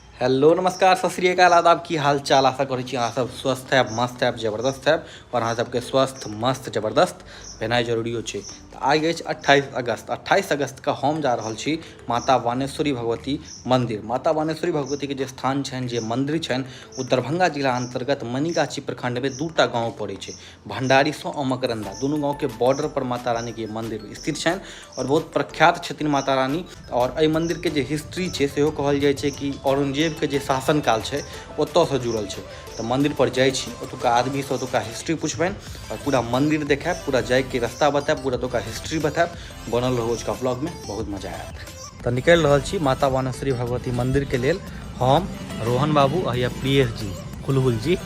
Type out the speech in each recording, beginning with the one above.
Hello नमस्कार सत श्री अकाल आदाब की हाल चाल आशा करैत छी अहाँसभ स्वस्थ हयब मस्त हयब जबरदस्त हयब आओर अहाँ सबके स्वस्थ मस्त जबरदस्त भेनाइ जरुररिो छै तऽ आइ अछि अट्ठाइस अगस्त अट्ठाइस अगस्तके हम जा रहल छी माता बानेश्वरी भगवती मन्दिर माता बानेश्वरी श्वरी भगवतीके जे स्थान छनि जे मन्दिर छनि ओ दरभंगा जिला अन्तर्गत मनिगाछी प्रखण्डमे दू एकटा गाँव पड़ै छै भण्डारीसँ अमकरन्दा दुनू गाँवके बॉर्डरपर माता रानीके मन्दिर स्थित छनि आओर बहुत प्रख्यात छथिन माता रानी आओर एहि मन्दिरके जे हिस्ट्री छै सेहो कहल जाइ छै कि औरंगजेबके जे शासनकाल छै ओतऽसँ जुड़ल छै तऽ मन्दिरपर जाइ छी ओतुका आदमीसँ ओतुका हिस्ट्री पुछबनि आओर पूरा मन्दिर देखाएब पूरा जाइके रस्ता बताएब पूरा ओतुका हिस्ट्री बताएब बनल रहू अजुका ब्लॉगमे बहुत मजा आयत तऽ निकलि रहल छी माता वानेश्वरी भगवती मन्दिरके लेल हम रोहन बाबू आ या प्रियेश जी हुलहुल जी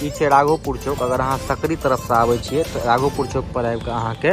ई छै राघोपुर चौक अगर अहाँ सकरी तरफसँ आबै छियै तऽ राघोपुर चौकपर आबि कऽ अहाँके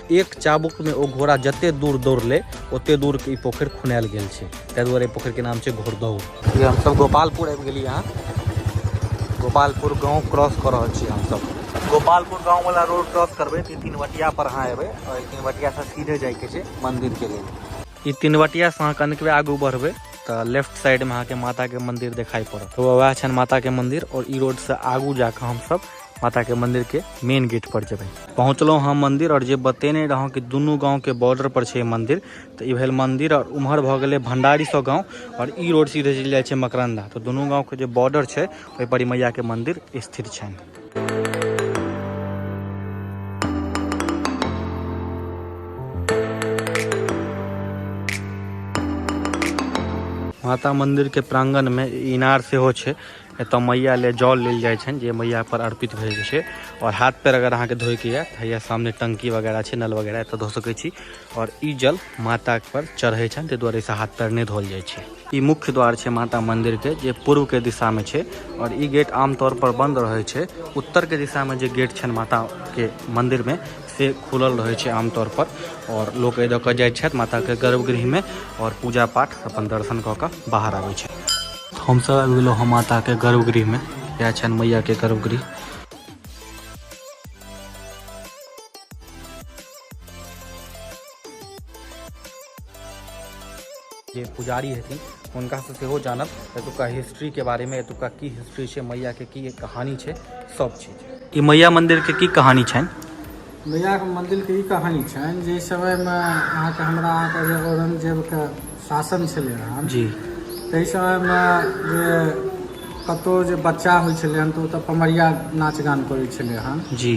एक चाबुकमे ओ घोड़ा जते दूर दौड़लै ओते दूर ई पोखरि खुनायल गेल छै ताहि दुआरे पोखरिके नाम छै घोड़दौड़ जे हमसभ गोपालपुर आबि गेली हँ गोपालपुर गाँव क्रॉस कऽ रहल छी हमसभ गोपालपुर गाँववला रोड क्रॉस करबै तऽ ई तिनवटियापर अहाँ एबै आओर ई तिनवटियासँ सीधे जाइके छै मन्दिरके लेल ई तिनवटियासँ अहाँ कनिकबे आगू बढ़बै तऽ लेफ्ट साइडमे अहाँके माताके मन्दिर देखाइ पड़त तऽ वएह छनि माताके मन्दिर आओर ई रोडसँ आगू जाकऽ हमसभ माता के मंदिर के मेन गेट पर जेबै पहुँचलहुँ हम मंदिर और जे बतेने रहूँ कि दुनू गाँव के बॉर्डर पर छै मंदिर तो ई भेल मंदिर और उम्हर भऽ गेलै भंडारी सब गाँव और ई रोड सीधे चलि जाइ छै मकरंदा तो दुनू गाँव के जे बॉर्डर छै ओहि पर ई मैया के मंदिर स्थित छनि माता मंदिर के प्रांगण में इनार सेहो छै एतऽ मैया ले जल लेल जाइ छनि जे मैया पर अर्पित भए जाइ छै आओर हाथ पैर अगर अहाँके धोइके यऽ तऽ हैया सामने टंकी वगैरह छै नल वगैरह एतऽ धो सकै छी आओर ई जल माता पर चढ़ै छनि ताहि दुआरे से हाथ पैर नहि धोल जाइ छै ई मुख्य द्वार छै माता मंदिर के जे पूर्व के दिशा में छै और ई गेट आमतौर पर बंद रहे छै उत्तर के दिशा में जे गेट छनि माता के मंदिर में से खुलल रहै छै आमतौर पर और लोग ए दऽ कऽ जाइ छथि माताके गर्भगृहमे और पूजा पाठ अपन दर्शन कऽ कऽ बाहर आबै छै हमसभ आबि गेलहुँ हँ माताके गर्भगृहमे इएह छनि मैयाके गर्भगृह जे पुजारी हेथिन हुनकासँ सेहो जानब एतुका हिस्ट्रीके बारेमे एतुका की हिस्ट्री छै मैयाके की कहानी छै सब चीज ई मैया मन्दिरके की कहानी छनि मैयाके मन्दिरके ई कहानी छनि जे समयमे अहाँके हमरा अहाँके जे औरंगजेबके शासन छलै हन जी ताहि समयमे जे कतहु जे बच्चा होइ छलै हन तऽ ओतऽ पमरिया नाच गान करै छलै हन जी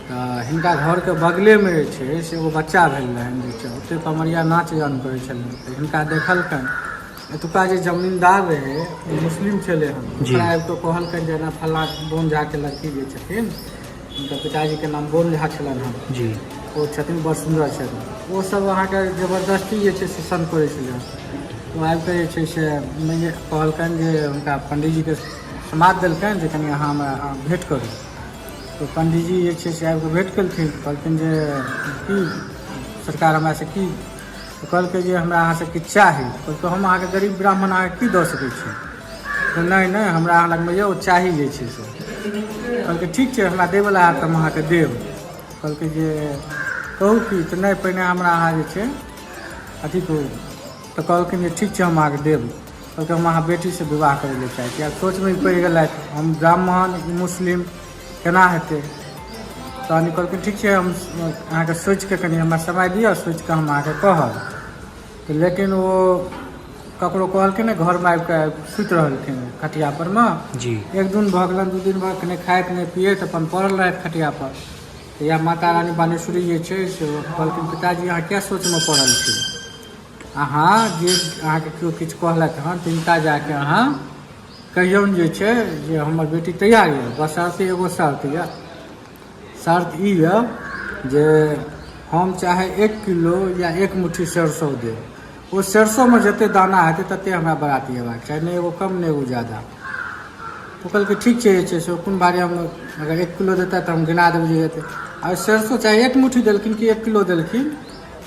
तऽ हिनका घरके बगलेमे जे छै से एगो बच्चा भेल रहनि जे छै ओतेक कमरिया नाच गान करै छलनि तऽ हिनका देखलकनि एतुका जे जमींदार रहै ओ मुस्लिम छलै हन जी। ओकरा आबि कऽ कहलकनि जे एना फल्लाँ बोन झाके लड़की जे छथिन हुनकर पिताजीके नाम बोन झा छलनि हन जी ओ छथिन बड़ सुन्दर छथिन ओ सब अहाँके जबरदस्ती जे छै से सन करै छलै हन। ओ आबि कऽ जे छै से मैया कहलकनि जे हुनका पंडीजीके समाद देलकनि जे कनि अहाँ हमरा अहाँ भेँट करू तऽ पंडीजी जे छै से आबि कऽ भेट केलखिन कहलखिन जे की सरकार हमरा से की तऽ कहलकै जे हमरा अहाँ से किछु चाही कहलकै हम अहाँके गरीब ब्राह्मण अहाँके की दऽ सकै छी तऽ नहि नहि हमरा अहाँ लगमे यौ चाही जे छै से कहलकै ठीक छै हमरा देबला हैत तऽ हम अहाँके देब कहलकै जे कहू की तऽ नहि पहिने हमरा अहाँ जे छै अथी कहू तऽ कहलखिन जे ठीक छै हम अहाँके देब कहलकै हम अहाँ बेटीसँ विवाह करै लए चाहै छी आब सोचमे पड़ि गेलथि हम ब्राह्मण मुस्लिम केना हेतै तहन कहलकै ठीक छै हम अहाँके सोचिके कनि हमरा समय दिअ सोचिके हम अहाँके कहब तऽ लेकिन ओ ककरो कहलखिन ने घरमे आबि कऽ सुति रहलखिन खटिया पर मे जी एक दिन भऽ गेलन दू दिन भऽ गेल खाइत नहि पियत अपन पड़ल रहथि खटिया पर तऽ इएह माता रानी बानेश्वरी जे छै से कहलखिन पिताजी अहाँ किया सोचमे पड़ल छी अहाँ जे अहाँके केओ किछु कहलथि हँ तिनका जाके अहाँ कहियौन जे छै जे हमर बेटी तैयार यऽ बस आसे एगो शर्त यऽ शर्त ई यऽ जे हम चाहे एक किलो या एक मुट्ठी सरसो देब ओ सरसोमे जते दाना हेतै तते हमरा बरात अयबाक चाही नहि एगो कम नहि एगो जादा ओ कहलकै ठीक छै जे छै से कोन बारे हम अगर एक किलो देता तऽ हम गिना देबै जे हेतै आ सरसो चाहे एक मुट्ठी देलखिन कि एक किलो देलखिन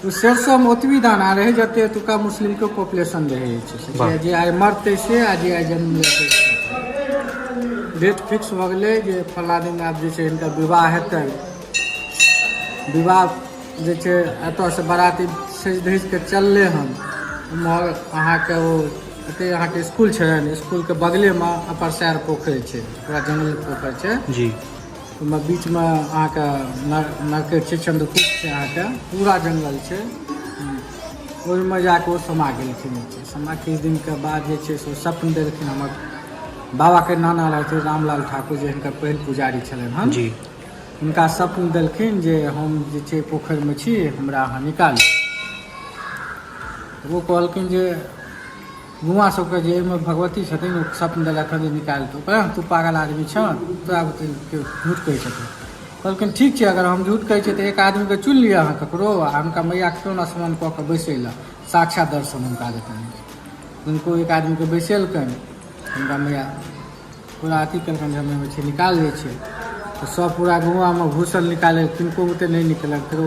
ओ सरिसोमे ओतबी दाना रहै जते एतुका मुस्लिमके पॉपुलेशन रहै छै से वाह। जे आइ मरतै से आ जे आइ जन्म लेतै से। डेट फिक्स भऽ गेलै जे फल्ला दिन आब जे छै हिनकर विवाह हेतै विवाह जे छै एतयसँ बराती सजि धजि कऽ चललै हन उमहर अहाँके ओ एते अहाँके स्कूल छै ने स्कूलके बगलेमे अपर सैर पोखरि छै पूरा जंगल पोखरि छै जी ओहिमे बीचमे अहाँके नरकेट छै चन्द्रकूट छै अहाँके पूरा जङ्गल छै ओहिमे जाके ओ समा गेलखिन समा किछु दिनके बाद जे छै से सपन देलखिन हमर बाबाके नाना रहथिन रामलाल ठाकुर जे हिनकर पहिल पुजारी छलनि हँ जी हुनका सपन देलखिन जे हम जे छै पोखरिमे छी हमरा अहाँ निकालू ओ कहलखिन जे बौआ सबके जे एहिमे भगवती छथिन ओ सपन देलक जे निकालि दू कहलक तू पागल आदमी छऽ तोरा झूठ कहै छथिन कहलखिन ठीक छै अगर हम झूठ कहै छियै तऽ एक आदमीके चुनि लिअ अहाँ ककरो आ हुनका मैयाके सोन स्मरण कऽ कऽ बैसै लए साक्षात दर्शन हुनका देतन हुनको एक आदमीके बैसेलकन हुनका मैया पूरा अथी केलकनि जे हमे छै निकालि लै छै तऽ सब पूरा गाँवमे घुसल निकालै किनको ओते नहि निकलक फेरो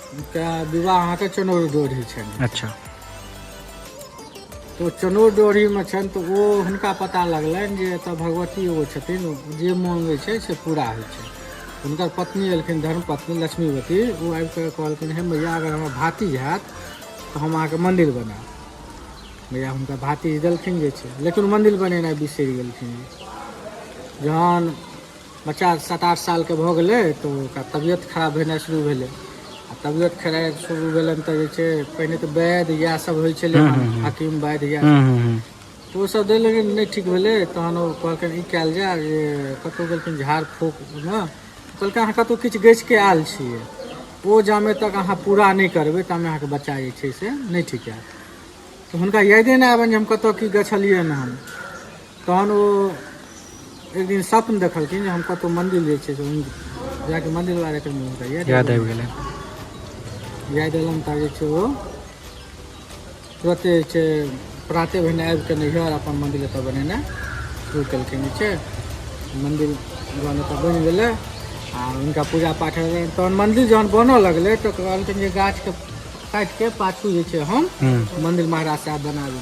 हुनका विवाह अहाँके चनौर डोरी छनि अच्छा तऽ चनौर डोरीमे छनि तऽ ओ हुनका पता लगलनि जे एतऽ भगवती एगो छथिन ओ जे माँगै छै से पूरा होइ छै हुनकर पत्नी एलखिन धर्म पत्नी लक्ष्मीवती ओ आबि कऽ कहलखिन हे मैया अगर हमर भातिज हैत तऽ हम अहाँके मन्दिर बनायब मैया हुनका भातिज देलखिन जे छै लेकिन मन्दिर बनेनाइ बिसरि गेलखिन जहन बच्चा सात आठ सालके भऽ गेलै तऽ ओकरा तबियत खराब भेनाइ शुरू भेलै आ तबियत खराब शुरू भेलनि तऽ जे छै पहिने तऽ वैद इएह सब होइ छलै हूँ, हूँ, हूँ। हकीम वैद इएह हूँ सब हूँ हूँ तऽ ओसभ देल लेकिन नहि ठीक भेलै तहन ओ कहलखिन ई कयल जाय जे कतहु गेलखिन झाड़ फूक मे कहलकै अहाँ कतहु किछु गछि कऽ आयल छियै ओ जामे तक अहाँ पूरा नहि करबै तामे अहाँके बच्चा जे छै से नहि ठीक हैत तऽ हुनका यादे नहि आबनि जे हम कतय की गछलियै हन हम तहन ओ एक दिन सपन देखलखिन जे हम कतहु मन्दिर जे छै से हुनका- जाके मन्दिर वाला एकर मुँह हुनका याद याद आबि गेलै याद एलम तऽ जे छै ओ तुरते जे छै प्राते भेने आबि कऽ नैहर अपन मन्दिर एतऽ बनेने शुरू केलखिन जे छै मन्दिर जहन एतऽ बनि गेलै आ हुनका पूजा पाठ भेलै तहन मन्दिर जहन बनऽ लगलै तऽ कहलखिन जे गाछके काटिके पाछू जे छै हम हूँ मन्दिर महाराज साहब बनाबी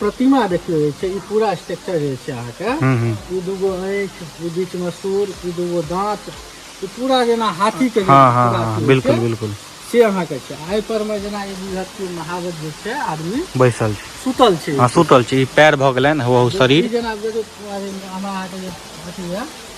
प्रतिमा देखियौ जे छै ई पूरा स्ट्रक्चर जे छै अहाँके हूँ हूँ ई दूगो आँखि ई बीच में सूर ई दूगो दाँत ई पूरा जेना हाथी के हाँ हाँ हाँ बिल्कुल बिल्कुल से अहाँके छै एहि पर में जेना ई बुझत कि महादेव जे छै आदमी बैसल छै सुतल छै हाँ सुतल छै ई पैर भऽ गेलनि हौ ई शरीर जेना देखियौ हमरा अहाँके जे अथी यऽ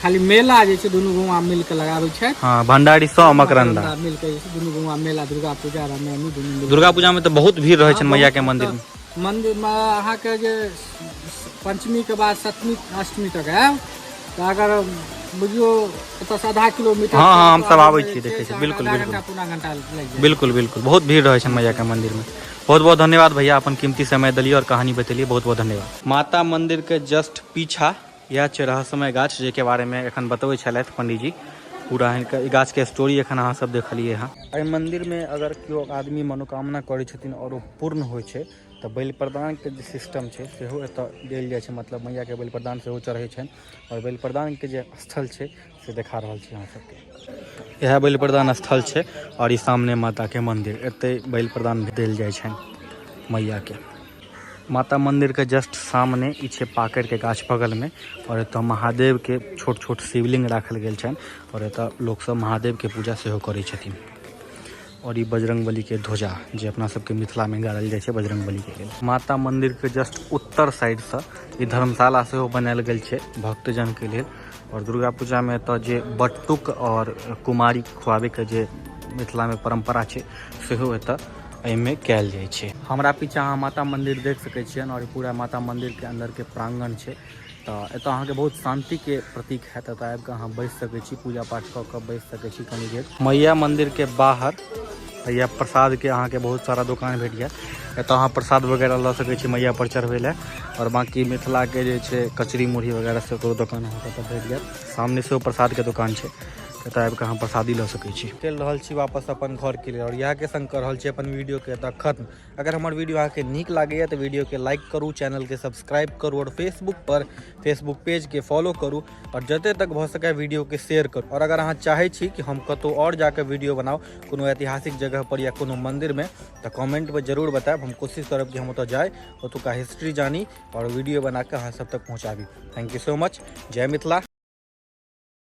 खाली मेला जे छै दुनू गौवा मिल के लगाबै छै हां भंडारी सो मकरंदा मिल के दुनू गौवा मेला दुर्गा पूजा रा में दुनू दुर्गा पूजा में तो बहुत भीड़ रहे छै मैया के मंदिर में मंदिर में अहा के जे पंचमी के बाद सप्तमी अष्टमी तक है तो अगर बुझियो तो आधा किलोमीटर हां हां हम सब आबै छी देखे छी बिल्कुल बिल्कुल घंटा पूरा घंटा लग जाए बिल्कुल बिल्कुल बहुत भीड़ रहे छै मैया के मंदिर में बहुत बहुत धन्यवाद भैया अपन कीमती समय दिलिए और कहानी बतेलिए बहुत बहुत धन्यवाद माता मंदिर के जस्ट पीछा इएह छै रहस्यमय गाछ जाहिके बारेमे एखन बतबै छलथि पंडीजी पूरा अहाँके ई गाछके स्टोरी एखन अहाँ सब देखलिए हँ एहि मन्दिरमे अगर केओ आदमी मनोकामना करै छथिन आओर ओ पूर्ण होइ छै तऽ बलि प्रदानके जे सिस्टम छै सेहो एतऽ देल जाइ छै मतलब मैयाके बलि प्रदान सेहो चढ़ै छनि आओर बलि प्रदानके जे स्थल छै से देखा रहल छी अहाँ सबके इएह बलि प्रदान स्थल छै आओर ई सामने माताके मन्दिर एतै बलि प्रदान देल जाइ छनि मैयाके माता मन्दिरके जस्ट सामने ई छै पाकड़िके गाछ बगलमे आओर एतऽ महादेवके छोट छोट शिवलिङ्ग राखल गेल छनि आओर एतऽ लोकसब महादेवके पूजा सेहो करै छथिन और ई बजरंग बली के ध्वजा जे अपना सबके मिथिला में गाड़ल जाय छै बजरंग बली के लेल माता मंदिर के जस्ट उत्तर साइड से ई धर्मशाला से हो बनायल गेल छै भक्तजन के लेल और दुर्गा पूजा में तो जे बट्टुक और कुमारी खुआबे के जे मिथिला में परंपरा छै से हो एत एहि में कैल जाय छै हमरा पीछा अहाँ माता मंदिर देख सके छियन और पूरा माता मंदिर के अंदर के प्रांगण छै तऽ एतय अहाँके बहुत शान्ति के प्रतीक हयत एतय आबि कऽ अहाँ बैस सकैत छी पूजा पाठ कऽ कऽ बैस सकैत छी कनि देर मैया मंदिर के बाहर या प्रसाद के अहाँके बहुत सारा दुकान भेट जायत एतय अहाँ प्रसाद वगैरह लऽ सकैत छी मैया पर चढ़बै लए आओर बाँकी मिथिलाके जे छै कचरी मुरही वगैरह से ओकरो दोकान अहाँके एतय भेट जायत सामने सेहो प्रसादके दोकान छै एतय आबि कऽ अहाँ प्रसादी लऽ सकैत छी चलि रहल छी वापस अपन घरके लेल आओर इएहके सङ्ग कऽ रहल छी अपन वीडियोके एतय खत्म अगर हमारे वीडियो अहाँ के निक लगे तो वीडियो के लाइक करूँ चैनल के सब्सक्राइब करूँ और फेसबुक पर फेसबुक पेज के फॉलो करूँ और जते तक भ सके वीडियो के शेयर करूँ और अगर अहाँ चाहे छी कि हम कतौ और जाके वीडियो बनाओ कोनो ऐतिहासिक जगह पर या कोनो मंदिर में तो कमेंट पर जरूर बताएब हम कोशिश करब कि हम ओतऽ जाए ओतुका हिस्ट्री जानी और वीडियो बना के अहाँ सब तक पहुँचाबी थैंक यू सो मच जय मिथिला